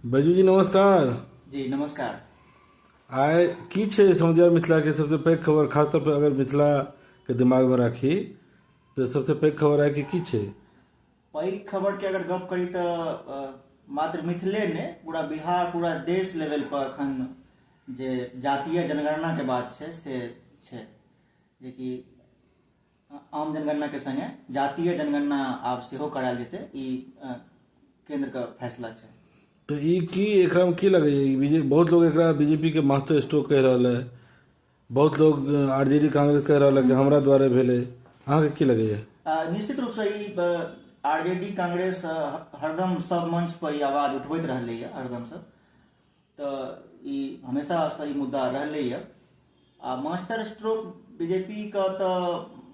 बैजू जी नमस्कार जी नमस्कार आय की छै समझिया मिथिला के सबसे पैघ खबर खास तौर पर अगर मिथिला के दिमाग में राखी तो सबसे पैघ खबर आय कि की छै पैघ खबर के अगर गप करी तऽ अ, मात्र मिथिले ने पूरा बिहार पूरा देश लेवल पर एखन जे जातीय जनगणना के बात छै से छै जेकि आम जनगणनाके सङ्गे जातीय जनगणना आब सेहो करायल जेतै ई केन्द्रके फैसला छै तऽ ई की एकरामे की लगैए ई बीजे बहुत लोग एकरा बीजेपीके महत्व स्टो कहि रहल है बहुत लोग आर जे डी कांग्रेस कहि रहल है कि हमरा द्वारे भेलै अहाँके की लगैए निश्चित रूपसँ E R J D Congress हरदम सब मंच पर ई आवाज उठबैत रहलैए हरदमसँ तऽ ई हमेशा सही मुद्दा रहलैए आ मास्टर स्ट्रोक बीजेपीके तऽ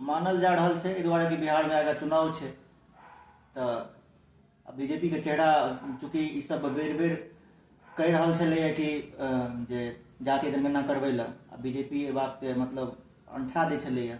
मानल जा रहल छै एहि दुआरे कि बिहारमे आगाँ चुनाव छै तऽ बीजेपीके चेहरा चूँकि ईसभ बेर बेर कहि रहल छलैए कि जे जाति जनगणना करबै लए आ बीजेपी एहि बातके मतलब अंठा दै छलैए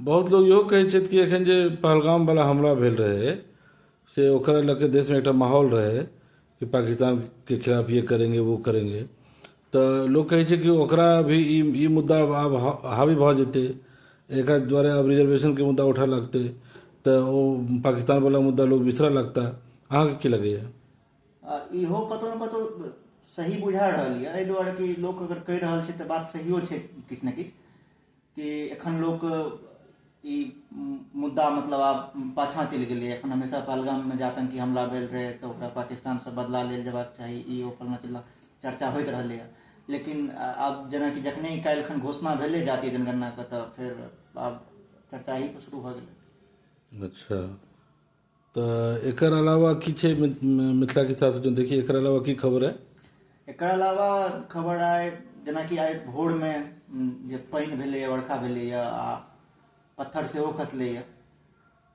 बहुत लोक इहो कहैत छथि कि एखन जे पहलगामवला हमला भेल रहै से ओकरा लऽ कऽ देशमे एकटा माहौल रहै कि पाकिस्तानके खिलाफ ये करेंगे वो करेंगे तऽ लोक कहैत छै कि ओकरा भी ई ई मुद्दा आब हावी भऽ जेतै एकरा द्वारा आब रिजर्वेशनके मुद्दा उठऽ लगतै तऽ ओ पाकिस्तानवला मुद्दा लोक बिसरऽ लगता अहाँके की लगैए आ इहो कतहु ने कतहु सही बुझा रहल यए एहि दुआरे कि लोक अगर कहि रहल छै तऽ बात सहियो छै किछु ने किछु कि एखन लोक ई मुद्दा मतलब आब पाछाँ चलि गेलै एखन हमेशा पहलगाममे जे आतंकी हमला भेल रहै तऽ ओकरा पाकिस्तानसँ बदला लेल जयबाक चाही ई ओ फलना चिल्ला चर्चा होइत रहलैए लेकिन आब जेनाकि जखने काल्हि एखन घोषणा भेलै जातीय जनगणनाके तऽ फेर आब चर्चा एहिपर शुरू भऽ गेलै अच्छा तऽ एकर अलावा की छै मिथिला के हिसाब से देखिए एकर अलावा की खबर है एकर अलावा खबर आइ जेनाकि आइ भोर में जे पानि भेलैए वर्षा भेलैए आ पत्थर सेहो खसलैए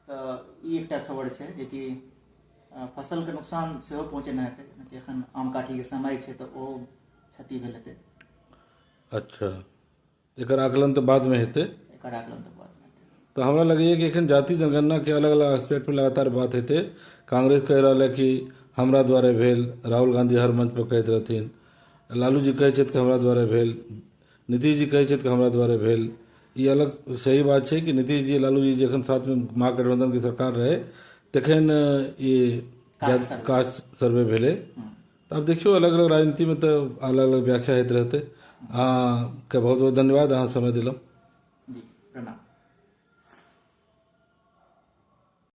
तऽ ई एकटा खबर छै जेकि फसलके नुकसान सेहो पहुँचेने हेतै जेनाकि एखन आम काठीके समय छै तऽ ओ क्षति भेल हेतै अच्छा एकर आकलन तऽ बादमे हेतै एकर आकलन तऽ बादमे हेतै तऽ हमरा लगैए कि एखन जाति जनगणनाके अलग अलग आस्पेक्टपर लगातार बात हेतै कांग्रेस कहि रहल अइ कि हमरा द्वारे भेल राहुल गाँधी हर मंचपर कहैत रहथिन लालू जी कहैत छथि कि हमरा द्वारे भेल नीतीश जी कहैत छथि कि हमरा द्वारे भेल ई अलग सही बात छै कि नीतीश जी लालू जी जखन साथमे महागठबन्धनके सरकार रहै तखन ई कास्ट सर्वे भेलै आब देखियौ अलग अलग राजनीतिमे तऽ अलग अलग व्याख्या होइत रहतै अहाँकेँ बहुत बहुत धन्यवाद अहाँ समय देलहुँ जी प्रणाम